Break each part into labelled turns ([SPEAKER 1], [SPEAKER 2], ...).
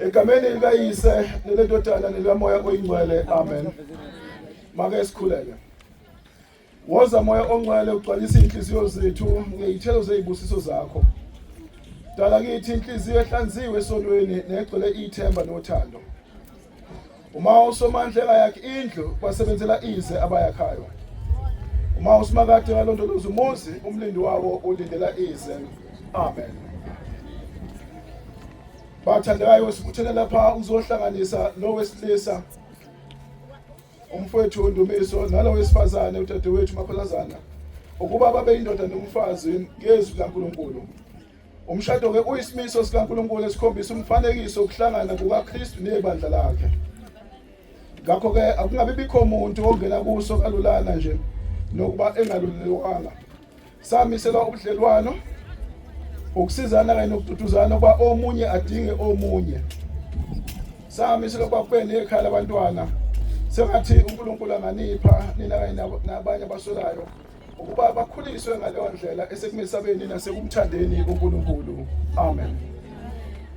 [SPEAKER 1] Egameni likayise nelendodana nelikamoya oyingcwele amen. Make sikhuleke. Woza moya ongcwele ugcwalisa inhliziyo zethu ngezithelo zezibusiso zakho. Dala kithi inhliziyo ehlanziwe esonweni negcwele ithemba nothando. uma uSomandla engayakhi indlu basebenzela ize abayakhayo uma uSimakade ngalondoloza umuzi umlindi wawo ulindela ize amen bathandekayo sibuthele lapha uzohlanganisa lo wesilisa umfowethu Ndumiso nalo wesifazane udadewethu Maphalazana ukuba babe indoda nomfazi ngezwi laNkulunkulu Umshado ke uyisimiso sikaNkulunkulu esikhombisa umfanekiso wokuhlangana kukaKristu nebandla lakhe. Ngakho ke akungabi bikho umuntu ongena kuso kalulana nje nokuba engalulelwanga. Samiselwa ubudlelwano ukusizana kanye nokududuzana ukuba omunye adinge omunye. Samiselwa ukuba kube nekhaya labantwana. Sengathi uNkulunkulu anganipha nina kanye nabanye abaswelayo. ukuba bakhuliswe ngaleyo ndlela esekumesabeni nasekumthandeni uNkulunkulu amen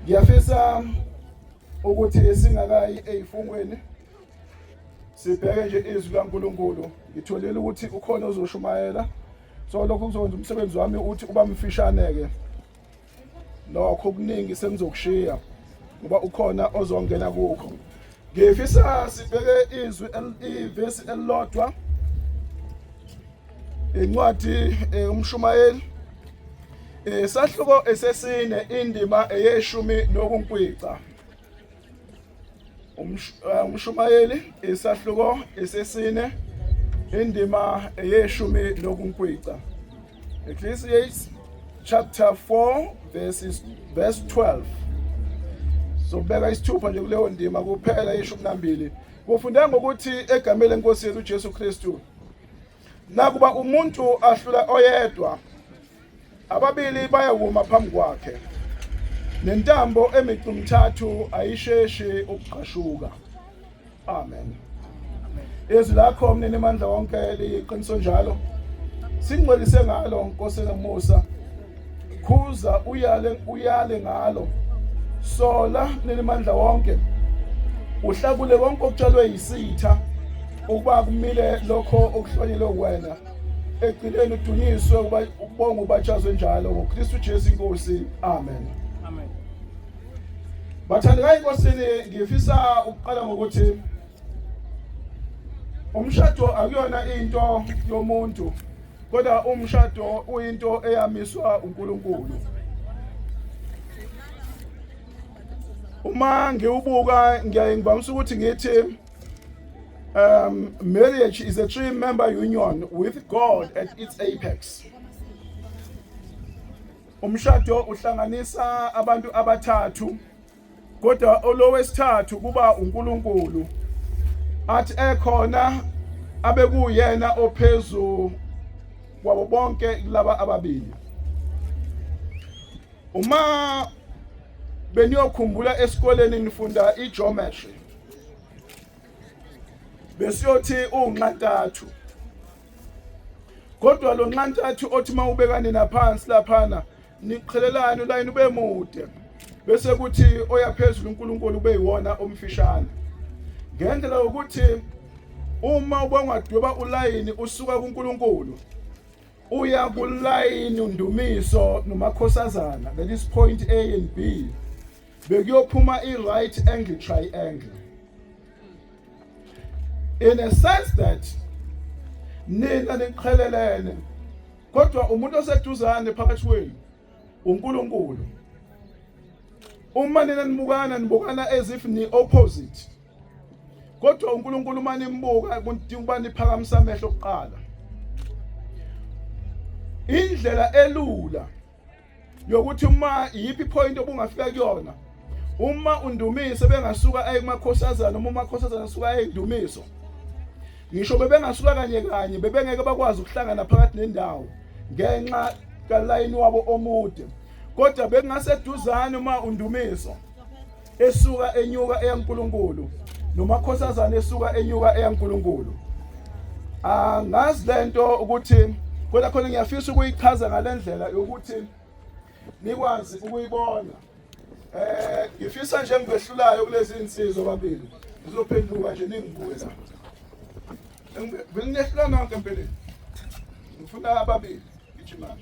[SPEAKER 1] ngiyafisa ukuthi singakayi ezifungweni sibheke nje izwi laNkulunkulu ngitholile ukuthi ukhona ozoshumayela so lokho kuzokwenza umsebenzi wami uthi uba mfishane ke lokho okuningi sengizokushiya ngoba ukhona ozongena kukho ngifisa sibheke izwi ivesi elilodwa incwadi eh, umshumayeli eh, sahluko esesine indima eyeshumi nokunkwica Eh, umshumayeli isahluko esesine indima eyeshumi nokunkwica ecclesiastes chapter 4 verses verse 12 sobeka isithupha nje kuleyo ndima kuphela ishumi nambili kufunde ngokuthi egameni lenkosi yethu uJesu Kristu Nakuba umuntu ahlula oyedwa, ababili bayawuma phambi kwakhe, nentambo emicu mthathu ayisheshi ukugqashuka. Amen. Izwi lakho mnini mandla wonke liyiqiniso njalo. Singcwelise ngalo Nkosi nomusa khuza uyale uyale ngalo sola nelimandla wonke uhlakule konke okutshalwe yisitha ukuba kumile lokho okuhlonyelwe wena egcineni udunyiswe ukubonga ubatshazwe njalo ngoKristu Jesu inkosi amen amen
[SPEAKER 2] bathandekayo
[SPEAKER 1] inkosini ngifisa ukuqala ngokuthi umshado akuyona into yomuntu kodwa umshado uyinto eyamiswa uNkulunkulu uma ngiwubuka ngiyaye ngivamisa ukuthi ngithi um marriage is a three member union with God at its apex umshado uhlanganisa abantu abathathu kodwa olowesithathu kuba uNkulunkulu athi ekhona abekuyena ophezu kwabo bonke laba ababili uma beniyokhumbula esikoleni nifunda igeometry besiyothi unxantathu kodwa lo nxantathu othi mawubeka nina phansi laphana niqhelelani ulayini ube mude bese kuthi oyaphezulu uNkulunkulu ube yiwona omfishane ngendlela yokuthi uma ubongadweba ulayini usuka kuNkulunkulu uya kulayini undumiso nomakhosazana that is point A and B bekuyophuma i right angle triangle in a sense that nina niqhelelene kodwa umuntu oseduzane phakathi kwenu uNkulunkulu uma nina nibukana nibukana as if ni opposite kodwa uNkulunkulu uma nimbuka kudinga ukuba niphakamisa amehlo kuqala indlela elula yokuthi uma yiphi point obungafika kuyona uma undumise bengasuka aye kumakhosazana uma umakhosazana asuka aye indumiso ngisho bebengasuka kanye kanye bebengeke bakwazi ukuhlangana phakathi nendawo ngenxa kalayini wabo omude kodwa bekungaseduzane uma undumiso esuka enyuka eyaNkulunkulu nomakhosazana esuka enyuka eyaNkulunkulu angazi lento ukuthi kodwa khona ngiyafisa ukuyichaza ngalendlela yokuthi nikwazi ukuyibona eh ngifisa nje ngibehlulayo kulezi insizwa babili ngizophenduka nje ningibuye la benginehlula nonke empeleni ngifuna ababili ngijimana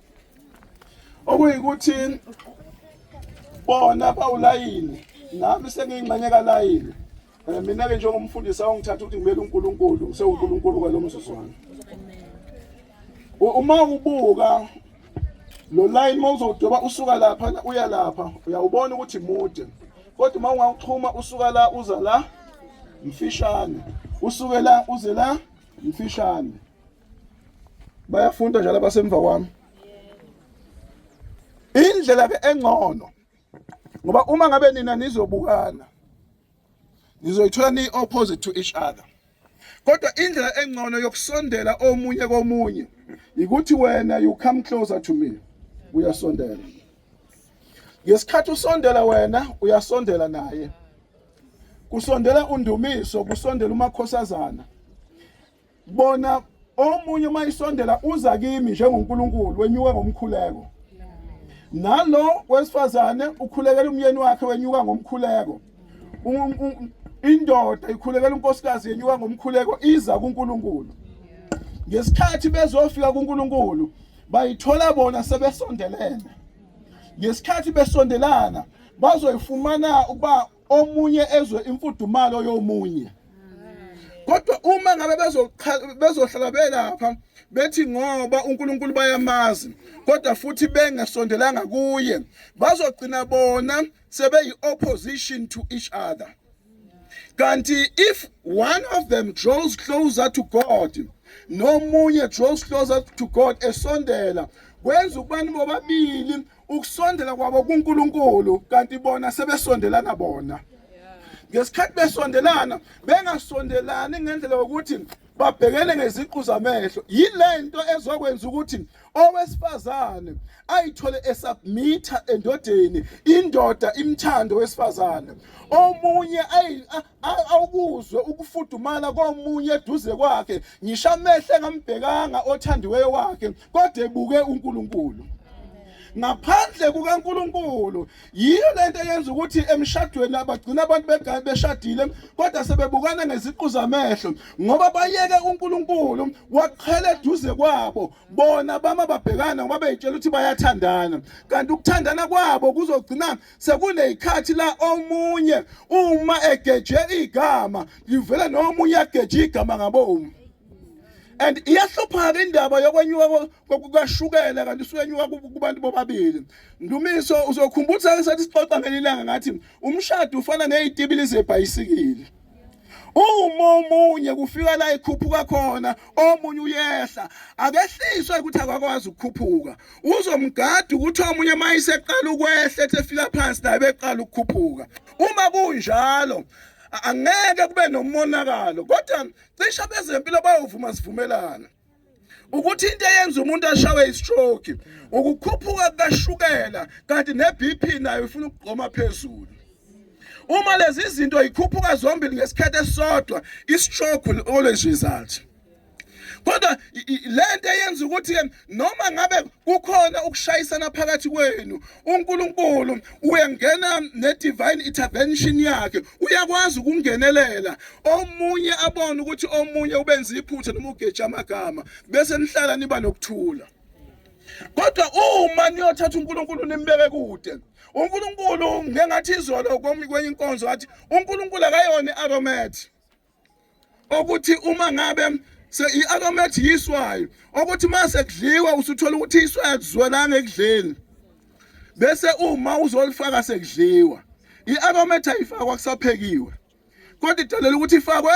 [SPEAKER 1] okuyikuthi bona bawulayini nami sengiyingxenye kalayini um eh, mina-ke njengomfundisi awangithatha ukuthi ngimele unkulunkulu sewunkulunkulu kwalo mzuzwana uma ubuka lo layini uma uzowudweba usuka lapha uya lapha uyawubona ukuthi mude kodwa uma ungawuxhuma usuka la uza la mfishane usuke la uze la mfishane bayafunda njalo abasemva kwami indlela ke engcono ngoba uma ngabe nina nizobukana nizoyithola ni opposite to each other kodwa indlela engcono yokusondela omunye komunye ukuthi wena you come closer to me uyasondela ngesikhathi usondela wena uyasondela naye kusondela undumiso kusondela umakhosazana bona omunye uma isondela uza kimi njengoNkulunkulu wenyuka ngomkhuleko nalo wesifazane ukhulekela umyeni wakhe wenyuka ngomkhuleko indoda ikhulekela unkosikazi yenyuka ngomkhuleko iza kuNkulunkulu ngesikhathi bezofika kuNkulunkulu bayithola bona sebesondelene ngesikhathi besondelana bazoyifumana ukuba omunye ezwe imfudumalo yomunye kodwa uma ngabe bezohlala belapha bethi ngoba uNkulunkulu bayamazi kodwa futhi bengasondelanga kuye bazogcina bona sebeyi opposition to each other kanti if one of them draws closer to God nomunye draws closer to God esondela kwenza ukubani bobabili ukusondela kwabo kuNkulunkulu kanti bona sebesondelana bona ngesikhathi besondelana bengasondelani ngendlela yokuthi babhekele ngeziqu zamehlo yilento ezokwenza ukuthi owesifazane ayithole esubmitha endodeni indoda imthando wesifazane omunye awukuzwe ukufudumala komunye eduze kwakhe ngisho amehlo engambhekanga othandiweyo wakhe kodwa ebuke uNkulunkulu ngaphandle kukaNkuluNkulu yiyo lento eyenza ukuthi emshadweni abagcina abantu begaye beshadile kodwa sebebukana ngeziqu zamehlo ngoba bayeke uNkuluNkulu waqhela eduze kwabo bona bama babhekana ngoba beyitshela ukuthi bayathandana kanti ukuthandana kwabo kuzogcina sekuney'khathi la omunye uma egeje igama livele nomunye ageje igama ngabomu and iyahlupha-ke indaba yokwenyuka kukashukela kanti usukenyuka kubantu bobabili ndumiso uzokhumbula ukuthi sake sathi sixoxa ngelilanga ngathi umshado ufana ngey'tibili zebhayisikili uma omunye kufika la ikhuphuka khona omunye uyehla akehliswa ukuthi akakwazi ukukhuphuka uzomgada ukuthi omunye uma iseqala ukwehla ethi efika phansi naye beqala ukukhuphuka uma kunjalo angeke kube nomonakalo kodwa cisha bezempilo bayovuma sivumelana ukuthi into eyenza umuntu ashawe istroke ukukhuphuka kukashukela kanti neBP nayo ifuna ukugqoma phezulu uma lezi zinto ikhuphuka zombili ngesikhathi esisodwa istroke will always result kodwa lento eyenza ukuthi noma ngabe kukhona ukushayisana phakathi kwenu uNkulunkulu uyengena ne-divine intervention yakhe uyakwazi ukungenelela omunye abone ukuthi omunye ubenza iphutha noma ugeja amagama bese nihlala niba nokuthula kodwa uma niyothatha uNkulunkulu nimbeke kude uNkulunkulu ngengathi izolo kwenye inkonzo wathi uNkulunkulu akayona i-aromat okuthi uma ngabe i-aromat yiswayo okuthi uma sekudliwa usuthola ukuthi iswayo akuzwelanga ekudleni bese uma uzolifaka sekudliwa i-aromat ayifakwa kusaphekiwe kodwa idalela ukuthi ifakwe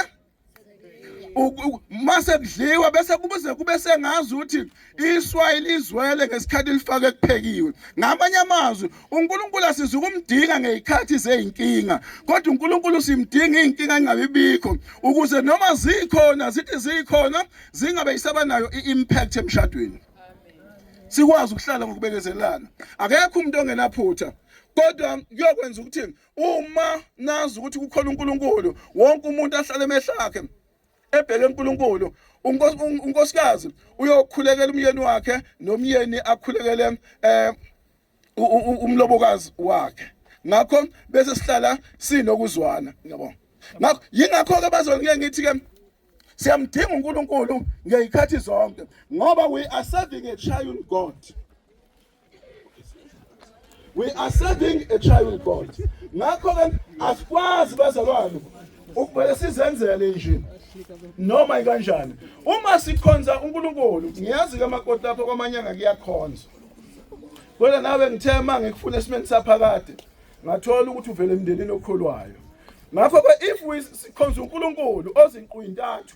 [SPEAKER 1] uma sekudliwa bese kubuze kube sengazi ukuthi Iswayi lizwele ngesikhathi lifake ekuphekiwe. Ngamanye amazwi, uNkulunkulu asiza ukumdinga ngezikhathi zezinkinga, kodwa uNkulunkulu simdinga izinkinga ingabe bikho ukuze noma zikhona zithi zikhona zingabe isaba nayo iimpact emshadweni. Sikwazi ukuhlala ngokubekezelana. Akekho umuntu ongenaphutha. kodwa kuyokwenza ukuthi uma nazi ukuthi kukhona uNkulunkulu wonke umuntu ahlale emehlakhe ebheke uNkulunkulu unkosikazi uyokhulekela umyeni wakhe nomyeni akhulekele eh umlobokazi wakhe ngakho bese sihlala sinokuzwana yabo ngakho yingakho ke bazona ngeke ngithi ke siyamdinga uNkulunkulu ngezikhathi zonke ngoba we are serving a triune God we are serving a trial god ngakho ke asikwazi bazalwane ukubele sizenzele nje noma ikanjani uma sikhonza uNkulunkulu ngiyazi ke amakoti lapho kwamanyanga kuyakhonza kodwa nawe ngithe uma ngikufuna esimeni saphakade ngathola ukuthi uvele emndenini okholwayo ngakho ke if sikhonza uNkulunkulu ozinqu intathu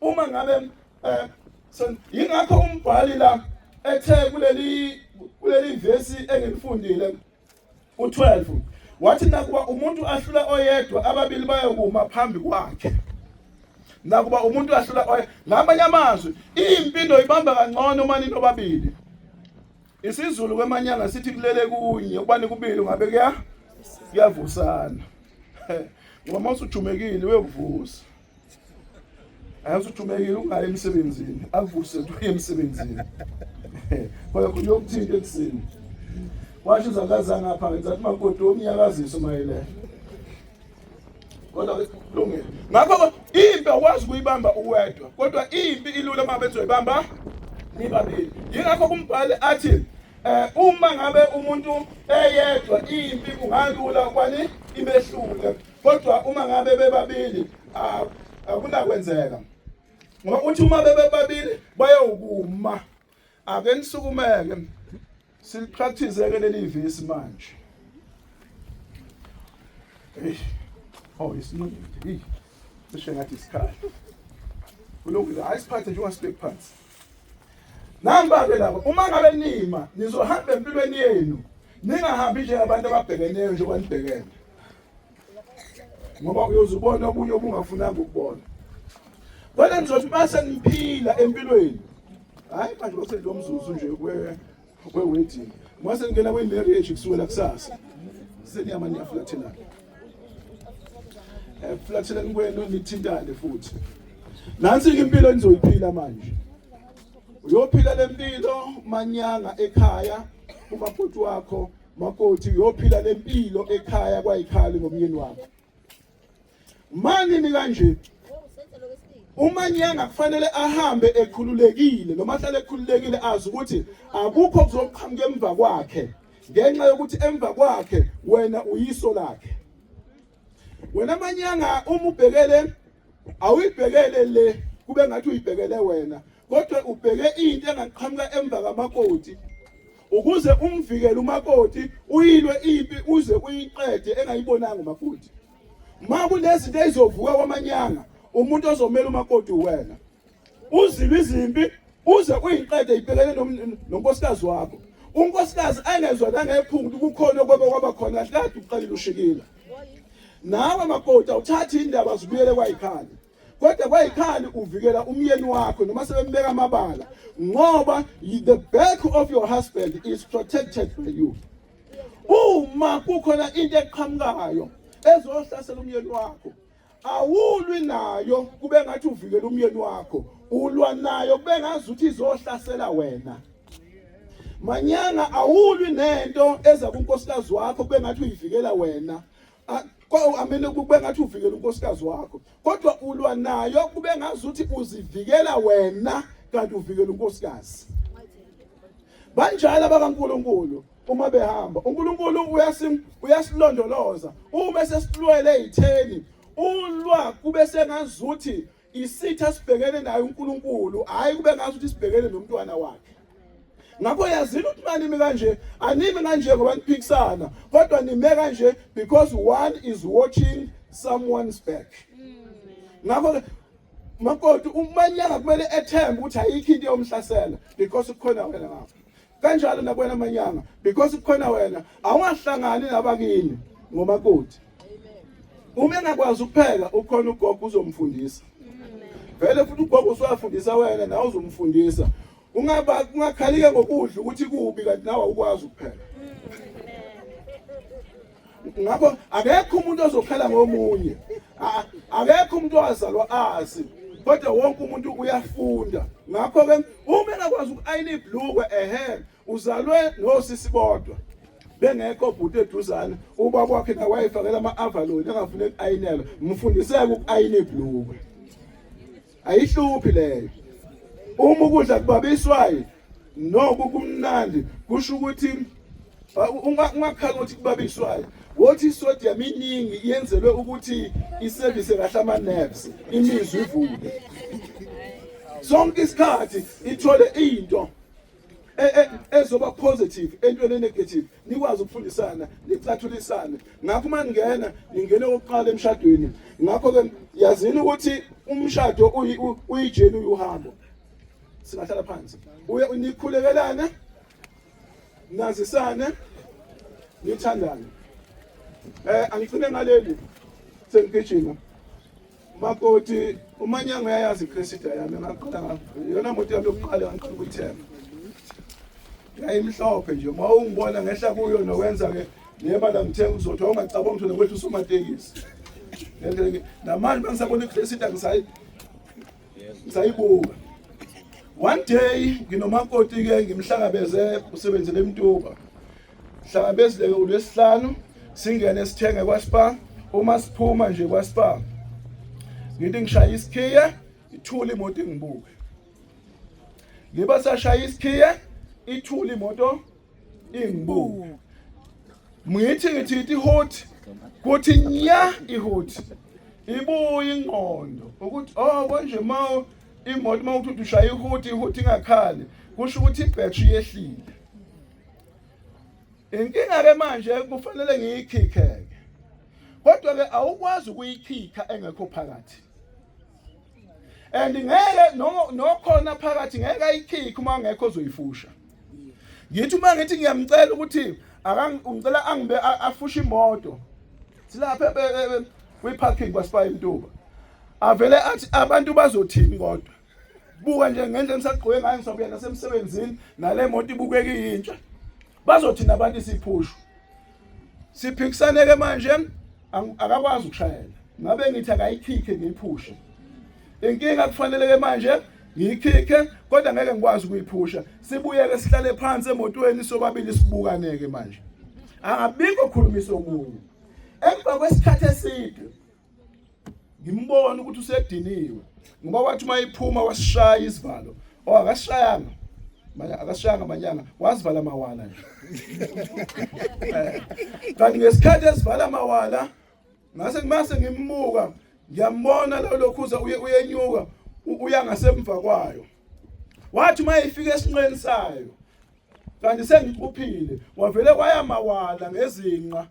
[SPEAKER 1] uma ngabe eh, yingakho umbhali la ethe kuleli kuleli vesi engilifundile u12 wathi nakuba umuntu ahlula oyedwa ababili bayokuma phambi kwakhe nakuba umuntu ahlula oye ngamanye amazwi impilo ibamba kangcono uma ninobabili isizulu kwemanyanga sithi kulele kunye uba nikubili ungabe kuya kuyavusana ngoba uma usujumekile uyokuvusa Angathi ujumekile ungayi emsebenzini, avuse uye emsebenzini. Kodwa khona yokuthinta ekuseni. Washo uzakaza ngapha ngenza ukuthi makoti omnyakaziso mayelele. Kodwa kulungile. Ngakho impi awukwazi kuyibamba uwedwa, kodwa impi ilula uma bezoyibamba nibabili. Yingakho kumbhali athi eh uma ngabe umuntu eyedwa impi kungalula kwani ibehlule kodwa uma ngabe bebabili akunakwenzeka ngoba uthi uma bebebabili bayowukuma ake nisukumeke silipractice ke leli vesi manje eish oh isinqindi eish sishengathi isikhala kulungile hayi siphathe njengoba sibekuphansi Namba-ke laba uma ngabe nima nizohamba empilweni yenu ningahambi nje abantu ababhekeneyo njengoba nibhekene ngoba uyoze ubone okunye obungafunanga ukubona kodwa nizothi uma seniphila empilweni hhayi manje bose lo mzuzu nje We waiting. Mwase ngena kwi marriage kusukela kusasa. Seniyama niyaflathelana. Eh flathelani kwenu nithintane futhi. Nansi ke impilo enizoyiphila manje. Uyophila lempilo manyanga ekhaya uma futhi wakho makoti uyophila lempilo ekhaya kwayikhali ngomyeni wakho. mani ni kanje umanyanga kufanele ahambe ekhululekile noma ahlale ekhululekile azi ukuthi akukho kuzoqhamuka emva kwakhe ngenxa yokuthi emva kwakhe wena uyiso lakhe wena manyanga uma ubhekele awuyibhekele le kube ngathi uyibhekele wena kodwa ubheke into engaqhamuka emva kamakoti ukuze umvikele umakoti uyilwe impi uze uyiqede engayibonanga umakoti ma kunezinto ezizovuka kwamanyanga umuntu ozomela umakoti uwena Uzilwa izimpi uze uyiqede ibhekene nonkosikazi wakho. Unkosikazi ayengezwa nangephungu kukhona okwebe kwaba khona kahle kade uqalile ushikile. Nawe makoti awuthathi indaba zibuyele kwayikhanda. kodwa kwayikhani uvikela umyeni wakho noma sebembeka amabala ngoba the back of your husband is protected by you uma kukhona into eqhamukayo ezohlasela umyeni wakho awulwi nayo kube ngathi uvikela umyeni wakho ulwa nayo kube ngazi ukuthi izohlasela wena manyanga awulwi nento eza kunkosikazi wakho kube ngathi uyivikela wena amele kube ngathi uvikela unkosikazi wakho kodwa ulwa nayo kube ngazi ukuthi uzivikela wena kanti uvikela unkosikazi banjalo abakaNkuluNkulu uma behamba uNkulunkulu uyasim uyasilondoloza uma sesilwele itheni ulwa kube sengazuthi isitha sibhekene naye uNkulunkulu hayi kube ngazuthi sibhekene nomntwana wakhe ngakho yazini ukuthi manimi kanje animi kanje ngoba niphikisana kodwa nime kanje because one is watching someone's back ngakho makoti umanyanga kumele ethembe ukuthi ayikho into yomhlasela because kukhona wena ngapha kanjalo nakwena manyanga because kukhona wena awungahlangani nabakini ngomakoti uma engakwazi ukupheka ukhona ugogo uzomfundisa vele futhi ugogo usuyafundisa wena nawe uzomfundisa ungaba ungakhalike ngokudla ukuthi kubi kanti nawe awukwazi ukupheka ngakho akekho umuntu ozokhala ngomunye akekho umuntu owazalwa azi kodwa wonke umuntu uyafunda ngakho-ke uma engakwazi uku-ayina ibhlukwe ehe uzalwe nosisi bodwa bengekho bhuti eduzane ubaba wakhe nawayefakela ama-avaloni angafuni uku-ayinelwa mfundiseke uku-ayina ibhlukwe ayihluphi leyo uma ukudla kubabiswayo noku kumnandi kusho ukuthi ungakhala ukuthi kubabiswayo wothi isodium iningi yenzelwe ukuthi isevise kahle ama-nerves imizwa ivuke sonke isikhathi ithole into e, e, ezoba positive entweni enegative nikwazi ukufundisana nicathulisane ngakho uma ningena ningene okokuqala emshadweni ngakho-ke yazini ukuthi umshado uyijeni uyuhambo singahlala phansi uye nikhulekelane nazisane nithandane um angigcine ngaleli sengigijima Makoti umanyango uyayazi iCressida yami ngaqala yona moto yami yokuqala ngaqala ukuyithenga yayimhlophe nje uma ungibona ngehla kuyo nowenza ke neba la ngithenga uzothi awungacabanga ukuthi nokwethu usumatekisi namanje bengisabona iCressida ngisayi ngisayibuka one day nginomakoti ke ngimhlangabeze usebenzele emtuba Hlangabezileke uLwesihlanu singene sithenge kwaSpar uma siphuma nje kwaSpar ngithi ngishaya isikhiye ithula imoto ingibuke ngiba sashaya isikhiye ithula imoto ingibuke ngithi ngithi ithi hot kuthi nya ihot ibuye ingqondo ukuthi oh konje mawo imoto mawuthi ushaya ihot ihot ingakhali kusho ukuthi ibhetri yehlile inkinga ke manje kufanele ngiyikhikhe ke kodwa ke awukwazi ukuyikhikha engekho phakathi and ngeke nokhona phakathi ngeke ayikhikhe uma ngekho ozoyifusha ngithi uma ngithi ngiyamcela ukuthi akangicela angibe afushe imoto silapha kwi-parking kwaSibayi Mtuba avele athi abantu bazothini kodwa buka nje ngendlela engisagqoke ngayo ngisabuya nasemsebenzini nale moto ibukeka iyintsha bazothina abantu isiphushu siphikisaneke manje akakwazi ukushayela ngabe ngithi akayikhikhe ngiyiphushe inkinga kufaneleke manje ngiyikhikhe kodwa ngeke ngikwazi ukuyiphusha sibuyeke sihlale phansi emotweni sobabili sibukaneke manje angabikho khulumisa omunye emva kwesikhathi eside ngimbona ukuthi usediniwe ngoba wathi uma iphuma wasishaya isivalo o oh, akasishayanga akasishayanga manyanga wazivala amawala nje eh, kanti ngesikhathi esivala amawala ngase kumase ngimbuka ngiyambona lo lokhuza uye uyenyuka uya ngasemva kwayo wathi uma ifika esinqeni sayo kanti sengiphuphile wavele waya mawala ngezinqa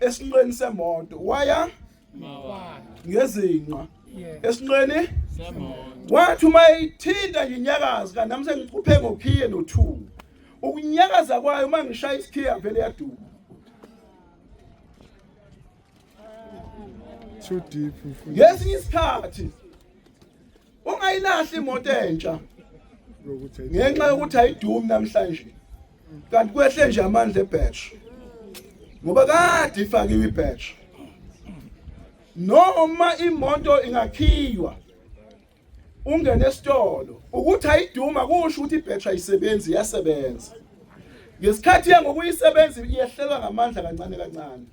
[SPEAKER 1] esinqeni semoto waya mawala ngezinqa esinqeni semoto wathi uma ithinta nginyakazi kanti nami sengiphuphe ngokhiye no2 ukunyakaza kwayo uma ngishaya isikhiye yavele yaduka
[SPEAKER 3] too deep ngesinye isikhathi
[SPEAKER 1] ungayilahli imoto entsha ngenxa yokuthi ayidumi namhlanje kanti kwehle nje amandla ebhatch ngoba kade ifakiwe ibhatch noma imoto ingakhiywa ungene esitolo ukuthi ayiduma kusho ukuthi ibhatch ayisebenzi iyasebenza ngesikhathi yangokuyisebenza iyehlelwa ngamandla kancane kancane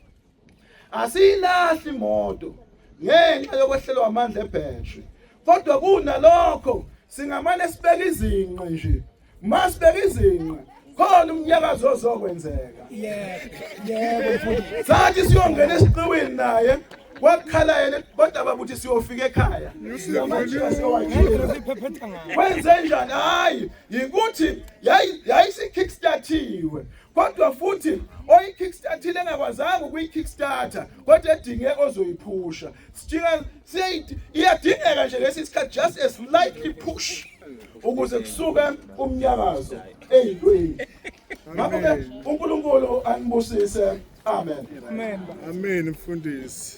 [SPEAKER 1] Asiyilahli imoto ngenxa yokwehlelwa amandla ebhetri. Kodwa kunalokho singamane sibeke izinqe nje. Masibeke izinqe khona umnyakazo ozokwenzeka. Yebo, yebo mfundisi. Sathi siyongena esiqiwini naye wakhala yena kodwa babuthi siyofika ekhaya wenze njani hayi yikuthi yayisikhickstartiwe kodwa futhi oyikickstartile engakwazanga ukuyikickstarter kodwa edinge ozoyiphusha sijika siyayithi iyadingeka nje lesi sikhathi just a slightly push ukuze kusuke umnyakazo eyintweni ngakho-ke unkulunkulu anibusise amen amen
[SPEAKER 3] mfundisi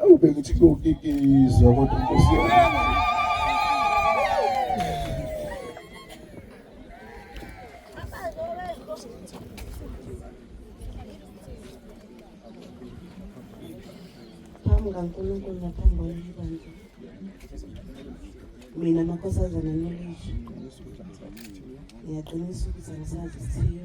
[SPEAKER 1] Awu bengithi kokikizwa kodwa Nkosi yami. Phambi
[SPEAKER 2] kaNkulunkulu naphambi kwaleli bandla. Mina amakhosazana nolizwe. Ngiyaqinisa ukuthi angisazi isithiyo.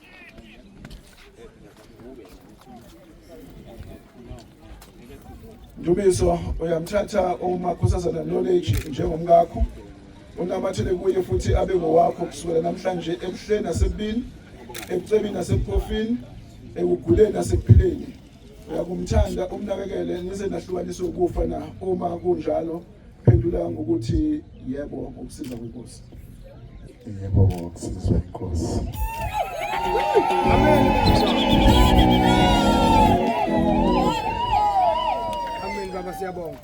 [SPEAKER 1] Ndumiso uyamthatha uMakhosazana Knowledge njengomkakho unamathele kuye futhi abe ngowakho kusukela namhlanje ebuhleni nasebubini ebucebini nasebuphofini ekuguleni nasekuphileni Uyakumthanda umnakekele nize nahlukanise ukufa na uma kunjalo phendula ngokuthi yebo ngokusiza kwenkosi.
[SPEAKER 4] Yebo ngokusiza kwenkosi. Amen.
[SPEAKER 1] Amen baba siyabonga.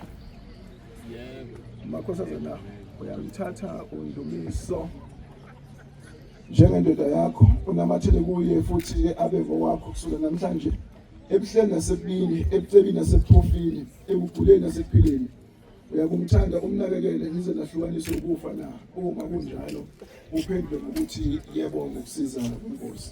[SPEAKER 1] Yebo. Makhosazana uyamthatha undumiso. njengendoda yakho unamathele kuye futhi ke abe ngokwakho kusukela namhlanje ebuhleni nasebubini ebucebini nasebuphofini ekuguleni nasekuphileni uyakumthanda umnakekele nize nahlukanise ukufa na uma kunjalo uphendule ngokuthi yebo ngokusiza inkosi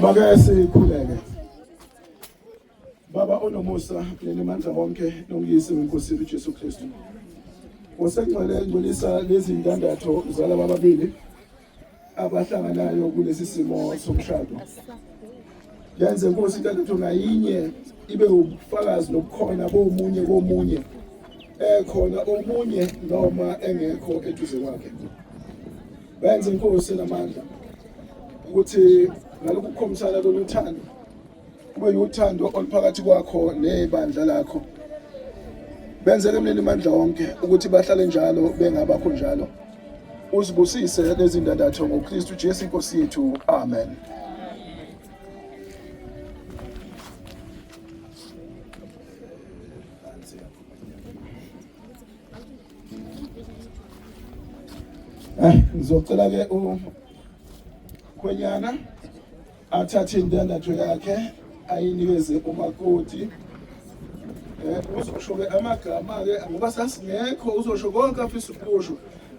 [SPEAKER 1] Maka sikhuleke. Baba onomusa nenimandla wonke nongiyise weNkosi uJesu Kristu. Osengcwele ngcolisa lezi ndandatho zalaba babili abahlanganayo kulesi simo somshado. Yenze Nkosi indandatho ngayinye ibe ubufakazi nobukhona bomunye komunye ekhona omunye noma engekho eduze kwakhe. benze inkosi namandla ukuthi ngalokhu kukhombisana lolu thando kube yuthando oluphakathi kwakho nebandla lakho benzele mlini mandla wonke ukuthi bahlale njalo bengabakho njalo uzibusise lezi ndandatho ngokristu jesu inkosi yethu amen Eh, ngizocela ke ukhwenyana athathe indandatho yakhe ayinikeze umakoti eh, uzosho-ke amagama-ke ngoba sasingekho uzosho konke afisa ukusho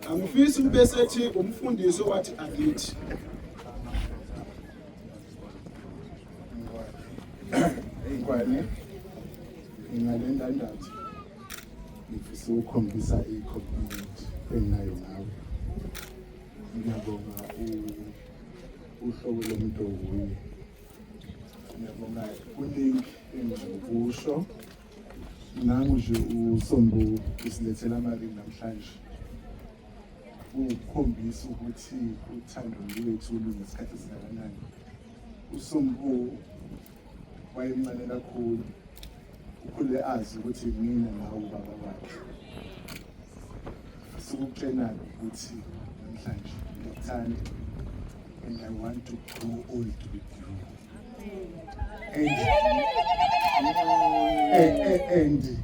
[SPEAKER 1] angifisi kube sethi umfundisi owathi angithi
[SPEAKER 4] ingwane ingalendandatho ngifisa ukukhombisa i-compliment enginayo ngawe ngiyabonga uhlobo lomuntu owuye ngiyabonga kuningi engingakusho nangu nje usombo usilethela amali namhlanje ukukhombisa ukuthi uthando lwethu lunesikhathi esingakanani usombo wayemncane kakhulu ukhule azi ukuthi mina la ubaba wakhe sikutshenani ukuthi namhlanje ngikuthanda and I want to grow old with you and, and, and, and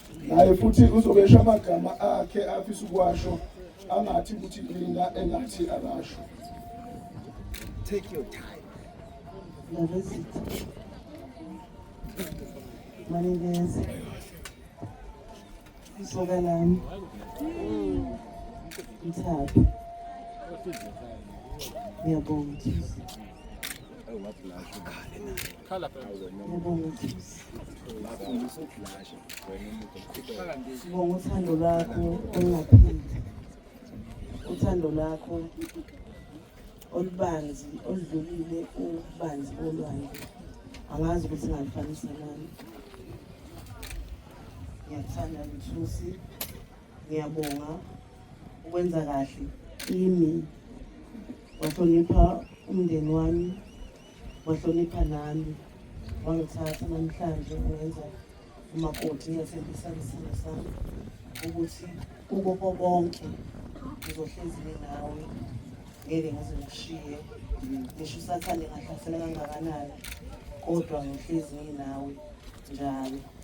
[SPEAKER 1] naye futhi uzobesha amagama akhe afisa ukuwasho angathi ukuthi mina engathi akasho
[SPEAKER 4] take your
[SPEAKER 2] time maningeze isoka lami mthathu ngiyabonga ngiyabonga Sibonga uthando lwakho olungapheli, uthando lwakho olubanzi oludlulile ububanzi bolwandle. Angazi ukuthi ngalifanisa nani. Ngiyakuthanda Mthusi, ngiyabonga ukwenza kahle kimi, wahlonipha umndeni wami wahlonipha nami wangithatha namhlanje ungenza umakoti ngiyathembisa isimo sami ukuthi kuko konke ngizohlezi nawe ngeke ngize ngishiye ngisho usathane ngahlasela kangakanani kodwa ngihlezi nginawe njalo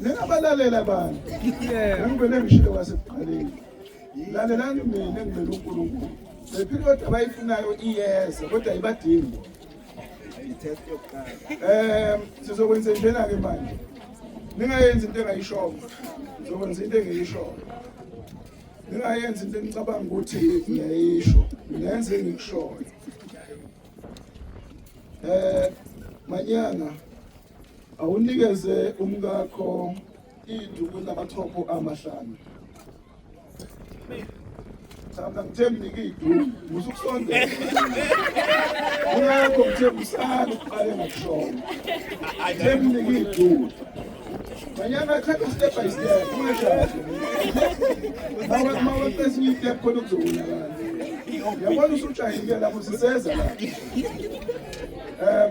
[SPEAKER 1] ningabalalela abantu engibele ngishilo kwasekuqaleni lalelani mina engibele unkulunkulu lepilodi abayifunayo iyeza kodwa ayibadingi um sizokwenze njena-ke manje ningayenzi into engayishoko sizokwenza into engeyishoko ningayenzi into enicabanga ukuthi ngiyayisho ngenze engikushoyo um manyanga awunikeze umkakho iduku elinamathopo amahlanu thanda ngithembi nike iduku musa ukusondela umkakho ngithembi usale uqale ngokushona ngithembi nike iduku manyanga thatha step by step ungashali mawaqesa esinye itep khona kuzowonakala yabona usujahile lapho siseza lapho um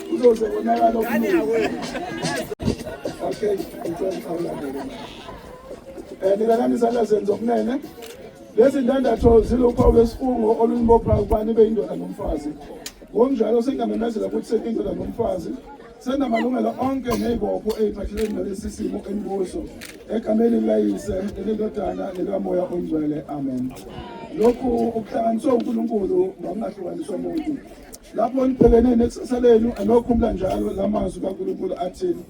[SPEAKER 1] Uzoze konakala okuningi. Okay, ngicela ukhawulane. Eh nina nami sala senzo kunene. Lezi ndandatho ziluphawu lwesifungo olunibopha ukuba nibe indoda nomfazi. Ngokunjalo sengamemezela ukuthi sekindoda nomfazi senamalungelo onke nezibopho eziphathelene nalesi simo enikuso egameni likayise nelendodana nelikamoya oyingcwele amen lokhu ukuhlanganiswa unkulunkulu ngokungahlukaniswa muntu lapho nibhekene nekusasa lenu anokhumula njalo la mazwi kaNkulunkulu athini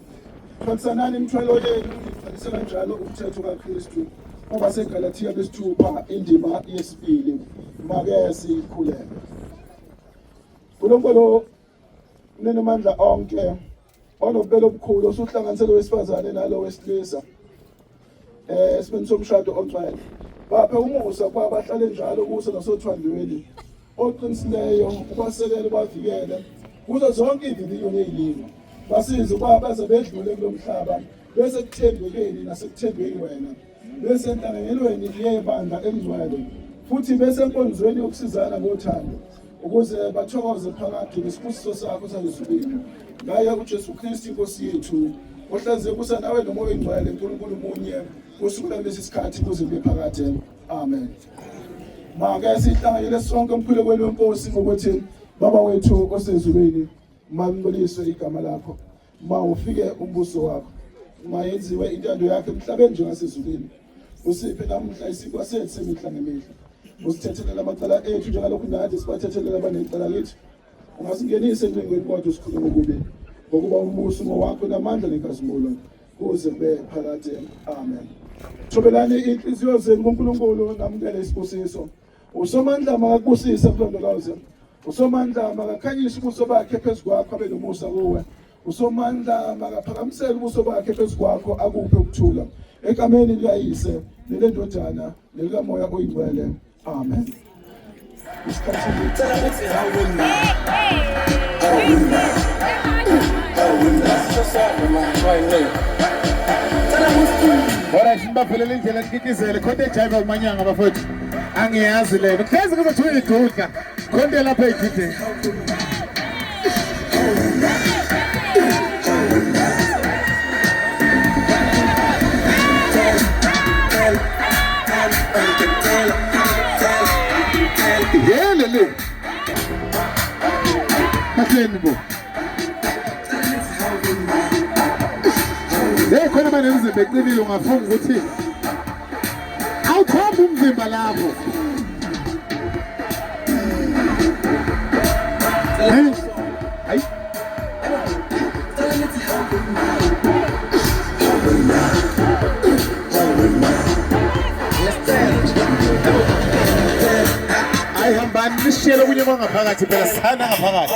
[SPEAKER 1] thwalisanani imithwalo yenu nigcwalise kanjalo umthetho kaKristu kuba seGalatiya besithupha indima yesibili make sikhuleke uNkulunkulu unenamandla onke onobubele obukhulu osuhlanganise lo wesifazane nalo wesilisa um eh, esimeni somshado ongcwele baphe umusa ukuba bahlale njalo kuso nasothandweni oqinisileyo ubasekele ubavikele kuzo zonke ividiyo neyilimi basize ukuba baze bedlule kulo mhlaba besekuthembekeni nasekuthembeni wena besenhlanganelweni yebandla engcwele futhi besenkonzweni yokusizana ngothando ukuze bathokoze phakade ngesibusiso sakho sangesukwini ngaye ujesu kristu inkosi yethu ohlaziye kusa nawe nomoya oyingcwele nkulunkulu munye kusukela kulesi sikhathi kuze kube phakade amen make sihlanganyele sonke emkhulekweni wenkosi ngokuthi baba wethu osezulwini malinceliswe igama lakho ma ufike umbuso wakho ma yenziwe intando yakhe emhlabeni njengasezulwini usiphe namuhla isikwa sethu semihla ngemihla usithethelela amacala ethu njengalokhu nathi sibathethelela abanecala lethu ungasingenise encingweni kodwa usikhule ngokubi ngokuba umbuso ngowakho namandla nenkazimulo kuze kube phakade amen thobelani inhliziyo zenu kunkulunkulu namukele isibusiso Usomandla makakubusise mlondoloze. Usomandla makakhanyise ubuso bakhe phezu kwakho abe nomusa kuwe. Usomandla makaphakamisele ubuso bakhe phezu kwakho akuphe ukuthula. Egameni likayise nelendodana nelikamoya oyingcwele. Amen. Isikhathi ngicela ukuthi awuwina. Awuwina.
[SPEAKER 5] Awuwina. Sosaba manje wayini. Cela ukuthi Alright, nibaphelele indlela nikikizele khona ejayiva umanyanga bafowethu. angiyazi lena hlezi kuzothi uyigudla khonto lapha egideni Yelele. Hakleni bu. Hey khona manje ngize beqinile ungafunga ukuthi awukhomba umzimba lapho sishiyele okunye kwangaphakathi phela sithanda ngaphakathi